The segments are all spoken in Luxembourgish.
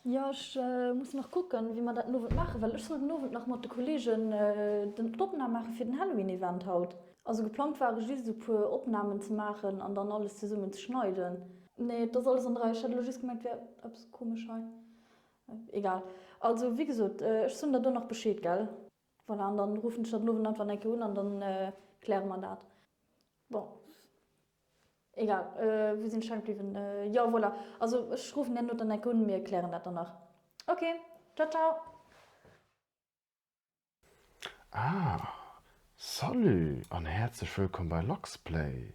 Jo, ech muss nach kucken, wéi mer dat den Owend maachen, well ech soll den Owend nach mat de Kolleegen d'Opnam maache fir den Halloween-Event haut. Also geplangt war ech just esou puer Opnamen ze maachen an dann alles zesummen ze schneiden. Nee, et ass alles an der Rei. Ech hat elo just gemengt, et wär eppes komesch hei. Egal. Also wéi gesot, ech soen der do nach Bescheed, gell? Voilà, an dann ruffen ech der den Owend einfach nach eng Kéier un an dann kläre mer dat. Bon. Egal, wou sinn ech hänk bliwwen? Jo, voilà, also ech ruffen däin Noter dann enk un, mir klären dat dann nach. Ok, ciao ciao. Ah, salut an häerzlech wëllkomm bei Luxplay.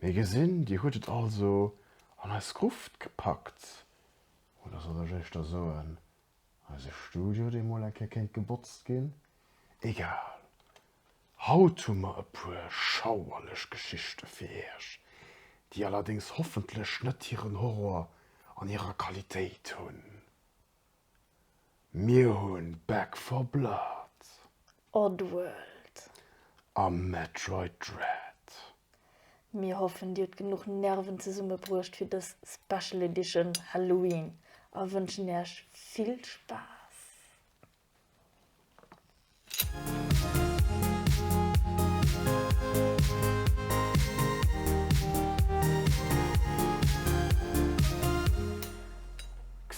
Mir gesinn, dir hutt et also an eis Gruft gepackt, oder sollt ech éischter soen, eise Studio, dee mol eng Kéier kéint gebotzt ginn? Egal, Haut hu mer e puer schauerlech Geschichte fir iech, déi allerdéngs hoffentlech net hiren Horror an hirer Qualitéit hunn. Mir hunn Back for Blood. Oddworld. A Metroid Dread. Mir hoffen dir hutt genuch Nerven zesumme bruecht fir dës Special Edition Halloween a wënschen iech vill Spaass.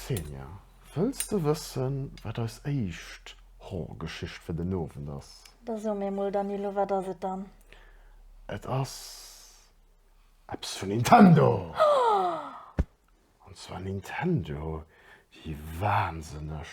Xenia, wëlls de wëssen, wat eis éischt Horrorgeschicht fir den Owend ass? Da so mir mol, Danilo, wat ass et dann? Et ass eppes vun Nintendo! An zwar Nintendo, déi wahnsinneg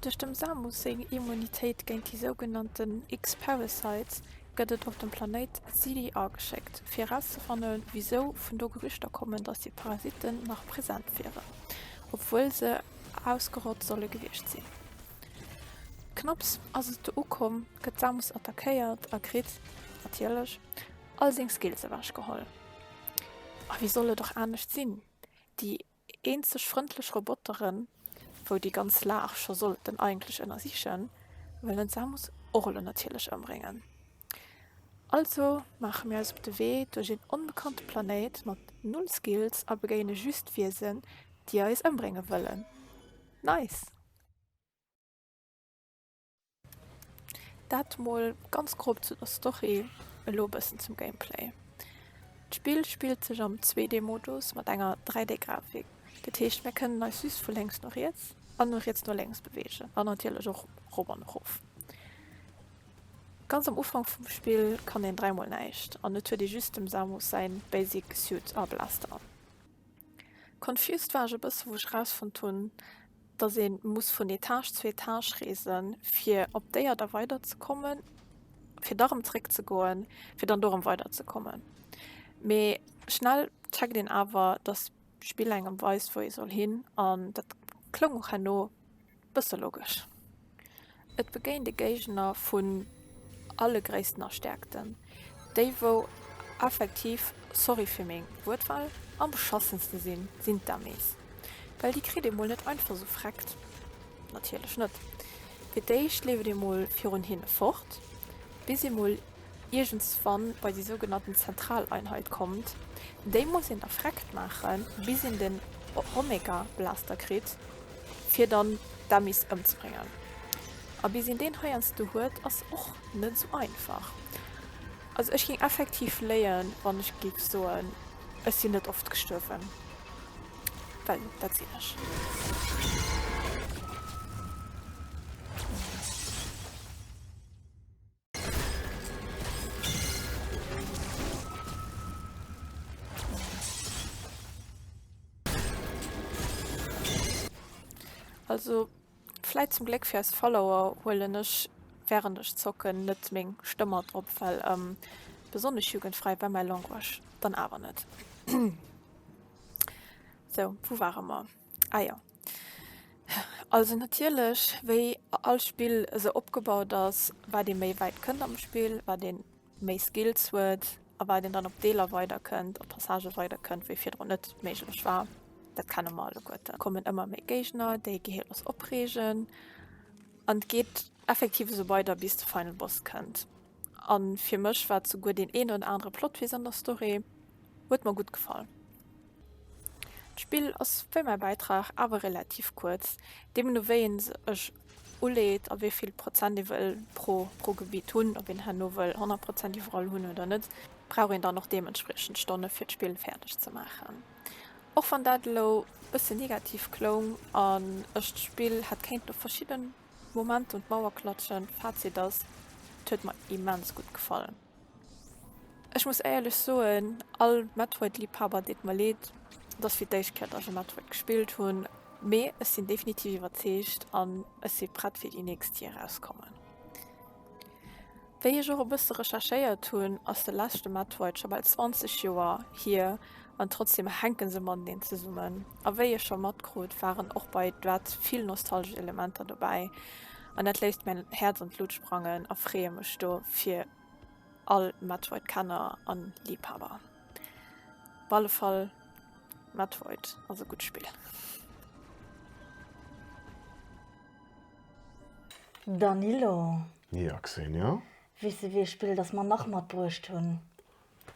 Duerch dem Samus seng Immunitéit géint déi sougenannten X-Parasites gëtt et op de Planéit Xiliar geschéckt, fir erauszefanne wisou vun do Gerüchter kommen, datt déi Parasitten nach present wieren, obwuel se ausgerott solle gewiescht sinn. Knapps ass et do ukomm, gëtt Samus attackéiert a kritt, natierlech, all seng Skills ewechgeholl. A wéi soll et och anescht sinn, déi Eenzeg frëndlech Roboteren, wou déi ganz Laach scho sollten eigentlech ënnersichen, wëllen d'Samus Orle natierlech ëmbréngen. Also maache mir eis op de Wee duerch een onbekannte Planéit mat null Skills a begéine just Wiesen, déi eis ëmbrénge wëllen. Nice! Dat mol ganz grob zu der Story, elo e bëssen zum Gameplay. D'Spill spillt sech am 2D-Modus mat enger 3D-Grafik. Dat heescht, mir kënnen eis just vu lénks no riets an vu riets no lénks beweegen an natierlech och erop an erof. Ganz am Ufank vum Spill kann een dräimol näischt an et huet ee just dem Samus säi Basic Suit a Blaster an. Confused war ech e bësse wou ech rausfonnt hunn, dass ee muss vun Etage zu Etage reese fir op déi Erder weiderzekommen, fir da rëm zréck ze goen, fir dann do rëm weiderzekommen. Mee schnell checkt een awer, dass d'Spill engem weist wou ee soll hin an dat kloung och herno. Bësse logesch. Et begéint e Géigner vun alle Gréissten a Stäerkten, déi wou effektiv, sorry fir meng Wuertwahl, am beschassenste sinn, sinn d'Dummies. Well déi kritt ee mol net einfach esou vreckt, natierlech net. Fir d'éischt leeft ee mol virun hinne fort, bis ee mol iergendswann bei déi sougenannten Zentraleinheit kommt, déi muss een da freckt maache bis een den Omega Blaster kritt fir dann d'Dummies ëmzebréngen. A bis een deen heiansdo huet ass och net esou einfach. Also ech géing effektiv léien wann ech géif soen ech sinn net oft gestuerwen, well dat sinn ech. Also vläit zum Gléck fir eis Follower huelen ech wärend ech zocken net meng Stëmm mat drop, well besonnesch jugendfräi war mäi Language dann awer net. Sou, wou ware mer? Ah jo. Also natierlech, wéi all Spill esou opgebaut ass, wat ee méi wäit kënnt am Spill, wat ee méi Skills huet a wat een dann op Deeler weider kënnt, op Passagë weider kënnt, wéi virdrun net méiglech war. Dat kenne mer alleguerten. Et kommen ëmmer méi Géigner, déi geheelt ass, opreegen an et geet effektiv esou weider, bis de Final Boss kënnt. A fir mech war et souguer deen een oder anere Plot-Twist an der Story. Huet mer gutt gefall. D'Spill ass wéi mäi Bäitrag, awer relativ kuerz, deemno no wéi een sech uleet a wéi vill Prozent ee wëll pro Gebitt hunn. Ob een herno wëll 100 Prozent iwwerall hunn oder net, brauch een dann och deementspriechend Stonne fir d'Spill fäerdeg ze maachen. Och wann dat elo e bësse negativ kloung an ech d'Spill hätt kéinten op verschidden. Moment un d'Mauer klatschen. Fazit ass, et huet mer immens gutt gefall. Ech muss éierlech soen, all Metroid Liebhaber deet mer leed, dass fir d'éischt Kéier ech e Metroid gespillt hunn, mee ech sinn definitiv iwwerzeegt an ech si prett fir déi nächst déi erauskommen. Wéi ech och e bësse recherchéiert hunn, ass de leschte Matt White scho bal 20 Joer hier an trotzdeem hänke se mateneen zesummen. A wéi ee scho matkrut, waren och bei Dread vill nostalgesch Elementer dobäi an dat léisst mäin Häerz an d'Lut sprangen a freeë mech do fir all Matt White Kenner an Liibhaber. Op alle Fall Matt White ass e gutt Spill. Danilo. Ja, Xenia? Weess de, wéi ee Spill datt mer nach matbruecht hunn?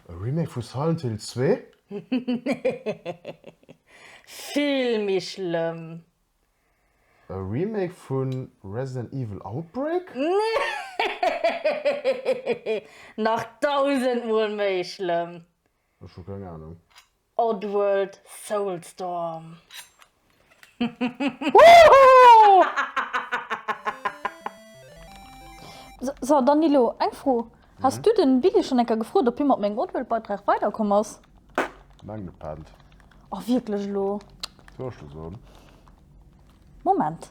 E Remake vu Silent Hill 2? Nee, vill méi schlëmm. E Remake vu Resident Evil Outbreak? Nee, nach dausend mol méi schlëmm. Ech hu keng Ahnung. Oddworld Soulstorm. So Danilo, eng Fro, Has du den Billy schon enker gefrot op hie mat mengem Oddworld Beitrag weider komm ass? Meng gepennt. Oh wierklech elo? Soll ech lo soen? Moment.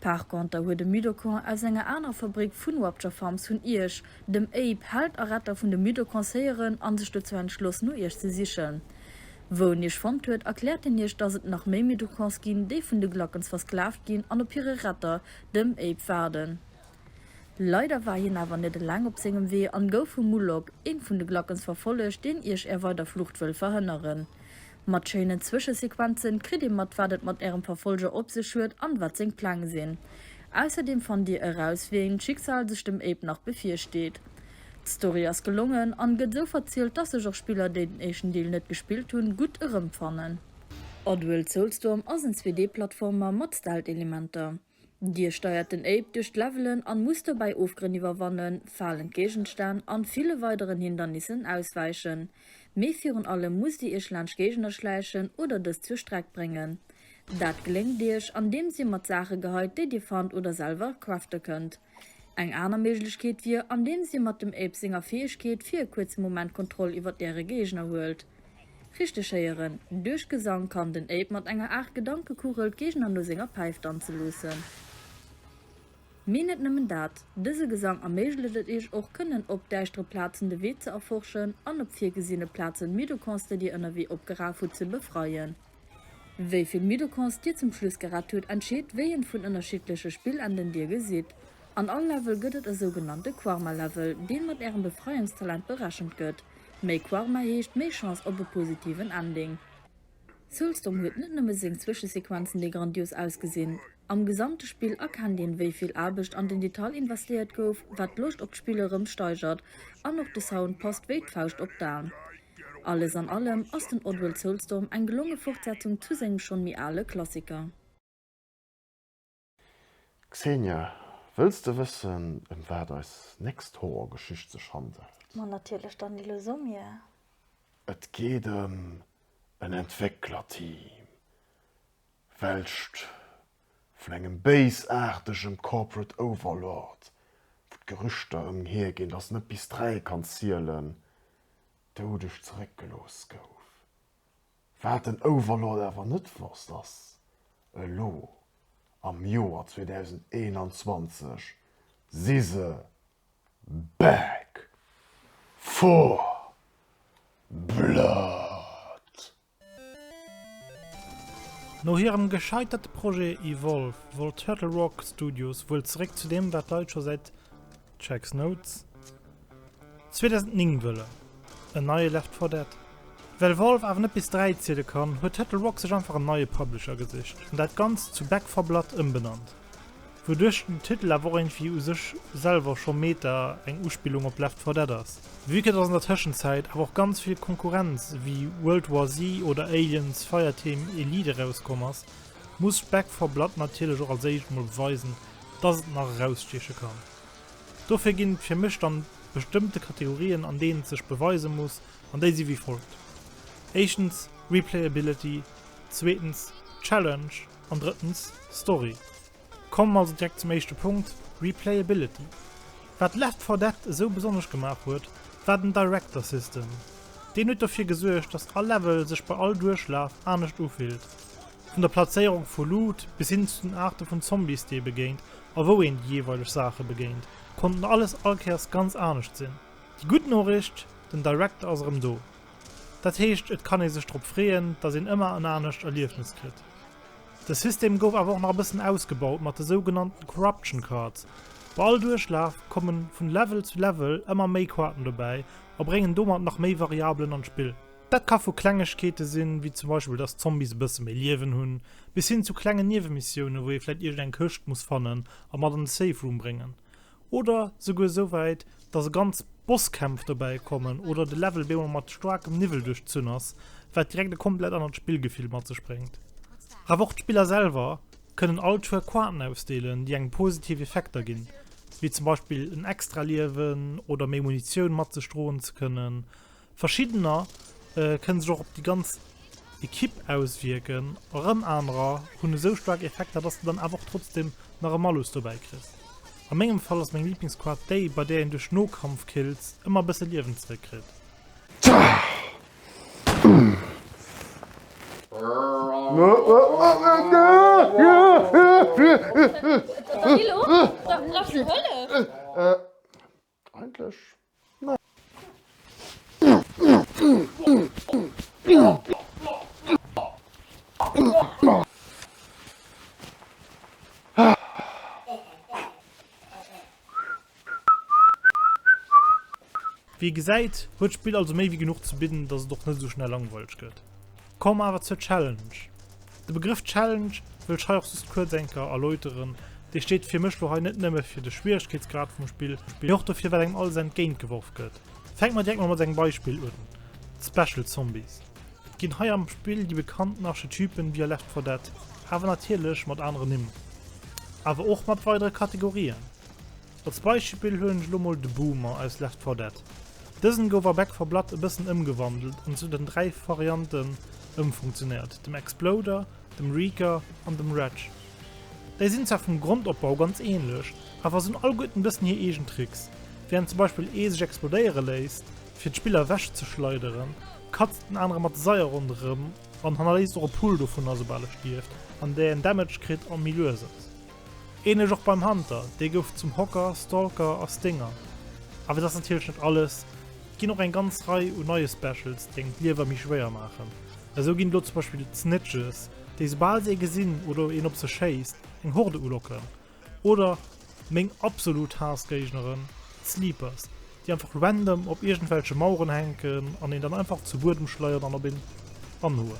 Par conter huet e Mudokon aus enger anerer Fabrik vun Wapture Farms vun Ierch, dem Abe, Held a Retter vun de Mudokons héieren an sech dozou entschloss no Ierch ze sichen. Wou en Ierch fonnt huet, erkläert hien Ierch dass et nach méi Mudokons ginn, déi vun de Glackens versklaavt ginn an op hire Retter, dem Abe, waarden. Leider war hien awer net eleng op sengem Wee an gouf vum Mulok, een vun de Glackens, verfollegt, deen Ierch är weider Flucht wëll verhënneren. Mat schéinen Zwëschesequenzen kritt ee mat wat et mat ärem Verfolger op sech huet an wat seng Pläng sinn. Ausserdeem fannt dir eraus wéi een d'Schicksal sech dem Abe nach bevirsteet. D'Story ass gelongen an gëtt sou verzielt dass sech och Spiller déi den éischten Deel net gespillt hunn gutt erëmfannen. Oddworld Soulstorm ass en 2D-Plattformer mat Stealth-Elementer. Dir steiert den Ape duerch d'Levelen an musst dobäi Ofgrënn iwwerwannen, falend Géigenstänn an ville weideren Hindernissen auswäichen. Mee virun allem musst Dir Iech laanscht Géigner schläichen oder dës zur Streck bréngen. Dat gléngt Iech andeems Dir mat Saache geheit déi Dir fannt oder selwer crafte kënnt. Eng aner Méiglechkeet wier, andeems ee mat dem Ape senger Fäegkeet fir e kuerze Moment d'Kontroll iwwert äre Géigner huelt. Richteg héieren, duerch Gesang kann den Ape mat enger Aart Gedankekugel d'Géigner no senger Päif danze loossen. Mee net nëmmen dat, dëse Gesang erméiglecht et iech och, kënnen op däischtere Plazen de Wee ze erforschen an op virgesinne Plazen Midokonsde, déi ënnerwee opgeraf hutt, ze befreien. Wéi vill Mitochons Dir zum Schluss gerett hutt, entscheet, wéi eent vun ënnerschiddleche Spillenden Dir gesitt. An all Level gëtt et e sougenannte Quarma-Level, deen mat Ärem Befreiungstalent berechent gëtt. Méi Quarma heescht méi Chance op e positiven Ending. Soulstorm huet net nëmme seng Zwëschesequenzen, déi grandios ausgesinn. Am gesamte Spill erkennt een, wéi vill Aarbecht an den Detail investéiert gouf, wat d'Loscht op d'Spill erëm steigert. An och de Sound passt wéi d'Fauscht op d'Aen. Alles an allem ass den Oddworld Soulstorm eng gelonge Fortsetzung zu sengem schonn méi ale Klassiker. Xenia, wëlls de wëssen, ëm wat eis nächst Horrorgeschicht sech handelt? Ma natierlech, dann déi lues u mir. Et geet ëm en Entwécklerteam, welcht vun engem béisaartegem Corporate Overlord, wou d'Gerüchter ëmhir ginn, dass en net bis dräi kann zielen, doudeg zeréckgelooss gouf. Wat den Overlord awer net wosst, ass elo am Joer 2021 si se back for blood. No hirem gescheiterte Projet Evolve wollt Turtle Rock Studios wuel zeréck zu deem, wat d'Leit scho säit checks notes 2009 wëllen, en neie Left 4 Dead. Well Valve awer net bis dräi ziele kann, huet Turtle Rock sech einfach en neie Publisher gesicht an dat Ganzt zu Back 4 Blood ëmbenannt. Wouduerch den Titel awer och iergendwéi u sech selwer scho Meta, eng Uspillung op Left 4 Dead ass. Vue que dass an der Tëschenzäit awer och ganz vill Konkurrenz ewéi World War Z oder Aliens, Fireteam Elite erauskomm ass, muss Back 4 Blood natierlech och als éischt mol beweisen, dass et nach erausstieche kann. Dofir ginn et fir mech dann bestëmmte Kategorien an deenen et sech beweise muss an déi si wéi folgt, éischtens Replayability, zweetens Challenge, An drëttens, Story. Kommen mer also direkt zum éischte Punkt, Replayability. Wat Left 4 Dead esou besonnesch gemaach huet, war den Director System. Deen huet dofir gesuergt, dass all Level sech bei all Duerchlaf anescht ufillt. Vun der Plazéierung vu Loot bis hin zu den Aarte vun Zombies, déi ee begéint a wou een déi jeeweileg Saache begéint, konnten alles all Kéiers ganz anescht sinn. Déi gutt Noricht, den Director ass erëm do. Dat heescht, et kann ee sech drop freeën, datt een ëmmer en anescht Erliefnes kritt. De System gouf awer och nach e bëssen ausgebaut mat de sougenannten Corruption Cards. Bei all Duerchlaf komme vun Level zu Level ëmmer méi Kaarten dobäi a bréngen domat nach méi Variabelen an d'Spill. Dat ka vu Klengegkeete sinn, wéi zum Beispill datt d'Zombies e bësse méi Liewen hunn, bis hin zu klengen Niewemissioune wou ee vläicht iergend eng Këscht muss fannen a mat an de Safe Room bréngen. oder souguer esou wäit, dass e ganz Bosskämpf dobäi kommen oder de Level op eemol mat staarkem Niwwel duerchzunn ass, wat direkt e komplett anert Spillgefill mat sech bréngt. Awer och d'Spiller selwer kënnen all Tour Quanten ausdeelen, déi engem positiv Effekter ginn, wéi zum Beispill en Extraliewen oder méi Munitioun mat sech droen ze kënnen. Verschiddener kënne sech och op déi ganz Ekipp auswierken, erëm anerer hunn esou staark Effekter, dass de dann awer och trotzdem nach e Malus dobäi kriss. A mengem Fall ass meng Liblingsquart déi, bei där een duerch Nokampfkills ëmmer e bësse Liewen zeréckkritt. Eigentlech nei. Wéi ee gesäit, huet d'Spill also méi wéi genuch ze bidden, dass et och net esou schnell langweileg gëtt. Komm awer zur Challenge. De Begrëff Challenge wëll ech hei och just kuerz enker erläuteren. Dee steet fir mech lo hei net nëmme fir de Schwieregkeetsgrad vum Spill, mee och dofir wat engem alles entgéint geworf gëtt. Fänke mer direkt mol mat engem Beispill un, d'Special Zombies. Et ginn hei am Spill déi bekannten Archetypen wéi a Left 4 Dead, awer natierlech mat aneren Nimm, awer och mat weidere Kategorien. Als Beispill huelen ech lo mol de Boomer aus Left 4 Dead. Dësen gouf a Back 4 Blood e bëssen ëmgewandelt an zu den 3 Varianten ëmfunktionéiert, dem Exploder, dem Reeker an dem Reg. Déi sinn zwar vum Grondopbau ganz ähnlech, awer sinn all gutt en bëssen hir eegen Tricks. Während zum Beispill ee sech explodéiere léisst fir d'Spiller ewech ze schleideren, katzt den anere mat de Seier ronderëm an hannerléisst och e Pull dovunner soubal e stierft, an deen Damage kritt an méi lues ass. Ähnlech och beim Hunter, dee gouf zum Hocker, Stalker a Stinger. Awer dat ass natierlech net alles, et ginn och eng ganz Rei u neie Specials, déi engem d'Liewer méi schwéier maachen. Esou ginn et elo zum Beispill d'Snitches, déi soubal se ee gesinn oder een op se schéisst, eng Horde ulocken. Oder meng absolut Haass-Géigneren, d'Sleepers. déi einfach random op iergendwelche Maueren hänken an een dann einfach zu Buedem schleiert an op een anhoen.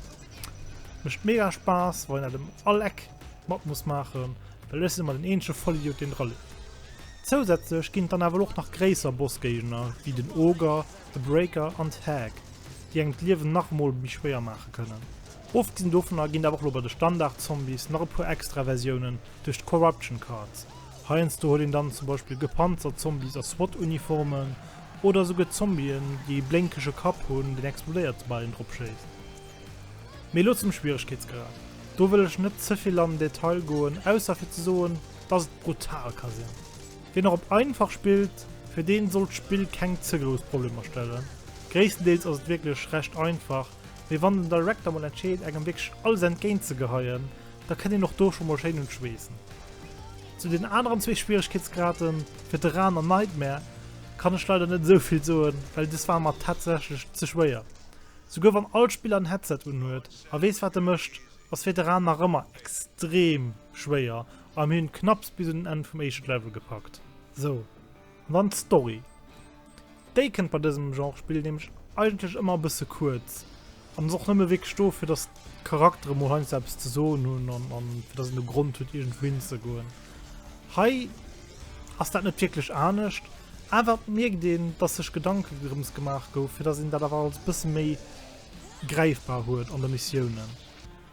Mécht mega Spaass, wa een dat em all Eck mat muss maachen, well ech sinn ëmmer den eenzege Vollidiot, deen dra leeft. Zousätzlech ginn et dann awer och nach gréisser Bossgéigner, wéi den Ogre, de Breaker an d'Hag, déi engem d'Liewen nach emol méi schwéier maache kënnen. Ofgesinn dovunner ginn et awer och elo bei de Standard-Zombies nach e puer extra Versiounen duerch d'Corruption Cards, Heiansdo huet een dann zum Beispill gepanzert Zombies a SWAT-Uniformen oder esouguer Zombien, déi ee blénkege Kapp hunn, deen explodéiert, soubal een drop schéisst. Mee elo zum Schwieregkeetsgrad. Do wëll ech net ze vill an den Detail goen, ausser fir ze soen, dass et brutal ka sinn. Wien nach op einfach spillt, fir dee sollt d'Spill keng ze grouss Problemer stellen. Gréisstendeels ass et wierklech recht einfach, Mee wann den Director mol entscheet engem wierklech alles entgéint ze geheien, da kënnt een och do scho mol schéin un d'Schweessen. Zu den aneren zwee Schwieregkeetsgraden, Veteran an Nightmare, kann ech leider net esou vill soen, well des war mer tatsächlech ze schwéier. Souguer wann all Spiller en Headset unhuet a weess wat e mécht, ass Veteran nach ëmmer extrem schwéier a mir hunn knapps bis un den Enn vum éischten Level gepackt. Sou. Dann d'Story. Déi kënnt bei dësem Genre Spill nämlech eigentlech ëmmer e bësse kuerz an ass och nëmme wierklech do, fir datt d'Charaktere mol heiansdo eppes ze soen hunn an a fir datt een e Grond huet, iergendwou hinzegoen. Hei ass dat net wierklech anescht, awer et mierkt een, datt sech Gedanke drëms gemaach gouf, fir datt een dat awer alles e bësse méi gräifbar huet an de Missiounen.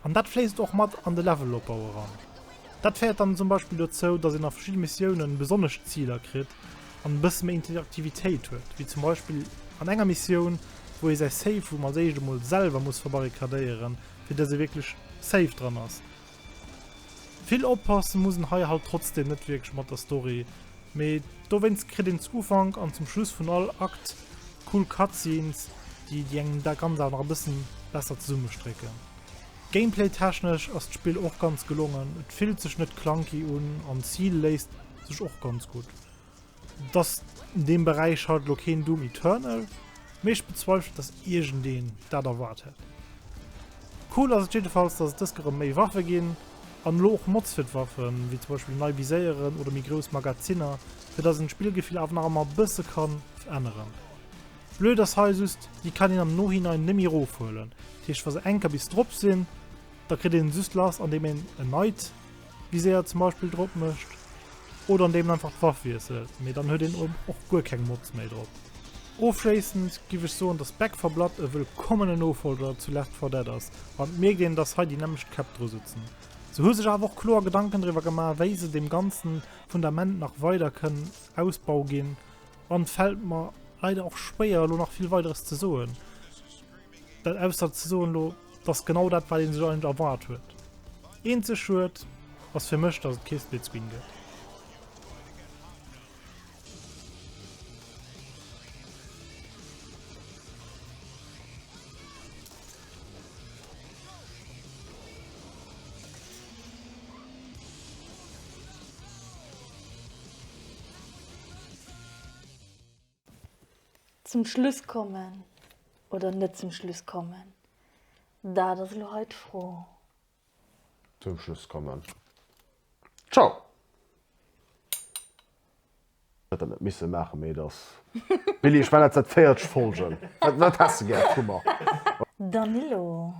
An dat fléisst och mat an de Levelopbau eran. Dat féiert dann zum Beispill dozou, datt een a verschidde Missiounen besonnesch Ziler kritt an e bësse méi Interaktivitéit huet, wéi zum Beispill an enger Missioun, wou ee säi Safe Room als éischt emol selwer muss verbarrikadéieren, fir datt ee wierklech safe dran ass. Vill oppasse muss en hei halt trotzdeem net wierklech mat der Story, Mee dowéinst kritt een zu Ufank an zum Schluss vun all Akt cool Cutscenes, déi déi engem dat Ganzt awer nach e bëssen besser zesummestrécken. Gameplay technesch ass d'Spill och ganz gelongen, et fillt sech net clunky un an d'Ziel léisst sech och ganz gutt. Et ass an deem Beräich halt elo keen Doom Eternal, mee ech bezweifelen dass iergendeen dat erwaart hätt. Cool ass et jiddefalls dass et dëske rëm méi Waffe ginn, An elo och Mods fir d'Waffen, wéi zum Beispill nei Viséieren oder méi grouss Magazinner, fir dass een d'Spillgefill awer nach emmer e bësse kann veränneren. Blöd ass hei just, déi kann een am Nohinein nemmi erofhuelen. Dat heescht, wa se enker bis drop sinn, da kritt een se just lass, andeem een en neit Viséier zum Beispill drop mécht. Oder andeem en einfach d'Waff wiesselt, mee dann huet een och guer keng Mods méi drop. Ofschléissend giff ech soen dass Back 4 Blood e wëllkommene Nofolger zu Left 4 Dead ass, wann et mierkt een dass hei déi nämmlecht Käpp dru sutzen. Se hu sech awer och kloer Gedanken driwwer gemaach wéi se deem ganzen Fundament nach weider kënnen Ausbau ginn an et fält mer leider och schwéier elo nach vill weideres ze soen. Dat ausser ze soen elo, dass genau dat wat een sech eigentlech erwaart huet. Eenzeg Schued ass fir mech, dass et kee Split Screen gëtt. Zum Schluss kommen oder net zum Schluss kommen, dat ass elo hei d'Fro. Zum Schluss kommen. Ciao! Huet der net missen maachen, mee et ass Billy. Ech mengen dat sinn 40 Folgen. Wat häss de gär vu mer? Danilo.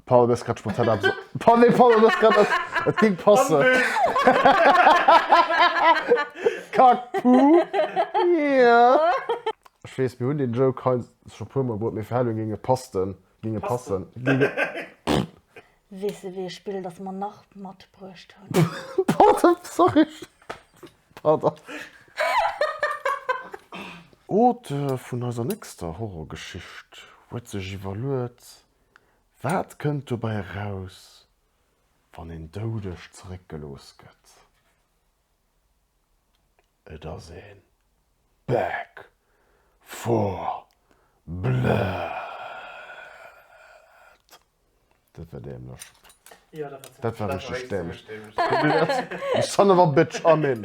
Paul hues grad spontan eppes Paul nee Paul hues grad eppes et ging passen Kack Puh yeah Ech weess mir hunn deen Joke hei scho e puer mol bruet mee fir Halloween ging e pasten ging e passen ging e Weess de wéi e Spill datt mer nach matbruecht hunn? Pardon sorry Pardon Auteur vun eiser nächster Horrorgeschicht huet sech iwwerluet Wat kënnt dobäi eraus, wann een doudeg zeréckgelooss gëtt? Et ass ee Back for Blood! Dat war dämlech. Dat war richteg dämlech. Son of a bitch, Armin!